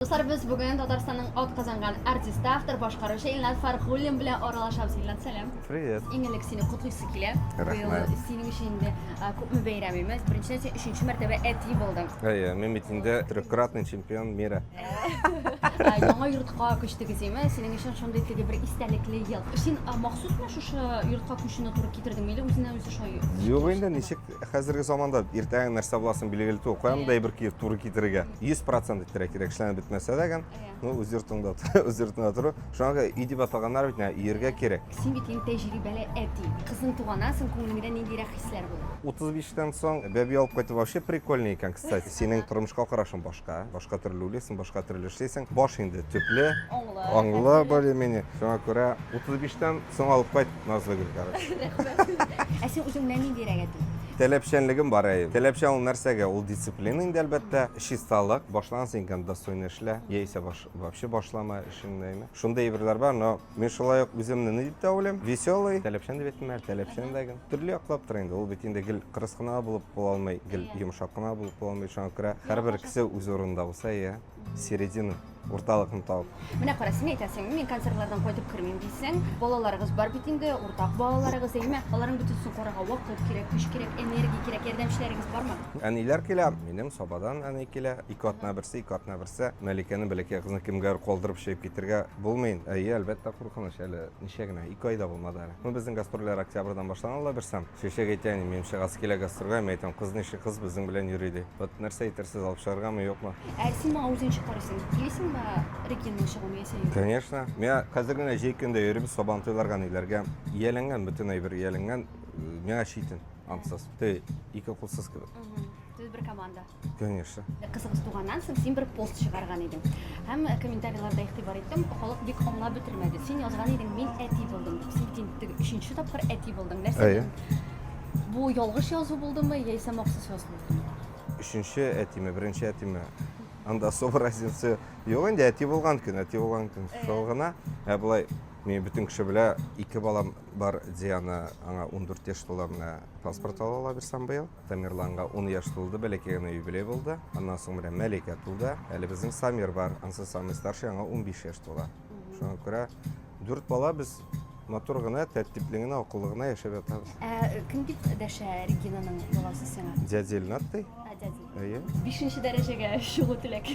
Дуслар, без бүген Татарстанның атказанган артисты, автор, башкаручы Илнат Фархуллин белән аралашабыз. Илнат, сәлам! Привет! Иң элек сине котлыйсы килә. Рәхмәт! Синең өчен инде күпме бәйрәм имез. Беренчедән, син өченче мәртәбә әти булдың. Әйе, мин бит инде трехкратный чемпион мира. Яңа йортка күчтегез, име? Синең өчен шундый теге бер истәлекле ел. Син махсусмы шушы йортка күчүне туры китердеңме, или үзеннән-үзе шулай? Юк инде, ничек Хәзерге заманда иртәгә нәрсә буласын билгеле түгел. Каян да әйбер киеп туры китерергә. 100% иттерә кирәк, эшләнеп бетмәсә дә гән. Ну, үз йортыңда, үз йортыңда тору. Шуңа өй дип аталганнар бит, ияргә кирәк. Син бит инде тәҗрибәле әти. Кызың туганнан соң күңелеңдә ниндирәк хисләр була? 35 тән соң бәби алып кайту вообще прикольный икән, кстати. Синең тормышка карашың башка, башка төрле уйлыйсың, башка төрле эшлисең. Баш инде төпле, аңлы более-менее. Шуңа күрә 35 тән соң алып кайт. Назлы гөл, короче. Ә син үзеңнән ниндирәк әти? Таләпчәнлегем бар әйе. Таләпчән ул нәрсәгә? Ул дисциплина инде әлбәттә. Чисталык. Башланган син икән достойно эшлә. Яисә баш, вообще башлама эшеңне әйме. Шундый әйберләр бар, но мин шулай ук үземне ни дип тә уйлыйм? Веселый. Таләпчән дип әйттем әле, таләпчән дә гел. Төрле яклап тора инде. Ул бит инде гел кырыс кына булып була алмый, гел йомшак кына булып була алмый. Шуңа күрә һәрбер кеше үз урынында булса, иә. Середину, урталыкны табып. Менә кара, син әйтәсең, мин концертлардан кайтып кермим дисең. Балаларыгыз бар бит инде, уртак балаларыгыз, әйме? Аларның бөтенесен карарга вакыт кирәк, көч кирәк, энергия кирәк, ярдәмчеләрегез бармы? Әниләр килә, минем Сабадан әни килә. Ике атна берсе, ике атна берсе. Мәликәне бәләкәй кызны кемгә калдырып чыгып китергә булмый. Әйе, әлбәттә, куркыныч әле ничә генә, ике айда булмады әле. Ну, безнең гастрольләр октябрьдан башланала берсам. Чәчәк әйтә, әни, минем чыгасы килә гастрольгә, мин әйтәм, кыз ничек кыз безнең белән йөри ди. Вот нәрсә әйтерсез, алып чыгаргамы, юкмы? Ә син моңа үзең чыгарсың, киләсеңме Регинаның чыгуын яисә юк? Конечно. Миңа хәзер генә җәй көндә йөрибез Сабантуйларга, ниләргә. Ияләнгән, бөтен әйбер ияләнгән. Миңа читен, ансыз. Теге ике кулсыз кебек. Мгм. Сез бер команда. Конечно. Кызыгыз туганнан соң син бер пост чыгарган идең. Һәм э, комментарийларда игътибар иттем, халык бик аңлап бетермәде. Син язган идең, мин әти булдым дип. Син тин- теге өченче тапкыр әти булдың. Нәрсә? Әйе. дин? Бу ялгыш язу булдымы яисә махсус язу булдымы? Өченче әтиме, беренче әтиме? Анда особо разница юк инде, әти булган көн, әти булган көн. Әйе. Шул гына. Ә болай, мин бөтен кеше белә, ике балам бар, Диана, аңа 14 яшь тула, менә паспорт ала ала бирсәм быел. Тамерланга ун яшь тулды, бәләкәй генә юбилей булды. Аннан соң менә Мәликә тулды. Әле безнең Самир бар, ансы самый старший, аңа 15 яшь тула. Шуңа күрә дүрт бала без матур гына, тәртипле генә, акыллы гына яшәп ятабыз. Ә кем дип дәшә Регинаның баласы сиңа? Дядя Илнат ди. Ә, дядя. Әйе. Бишенче дәрәҗәгә чыгу теләк.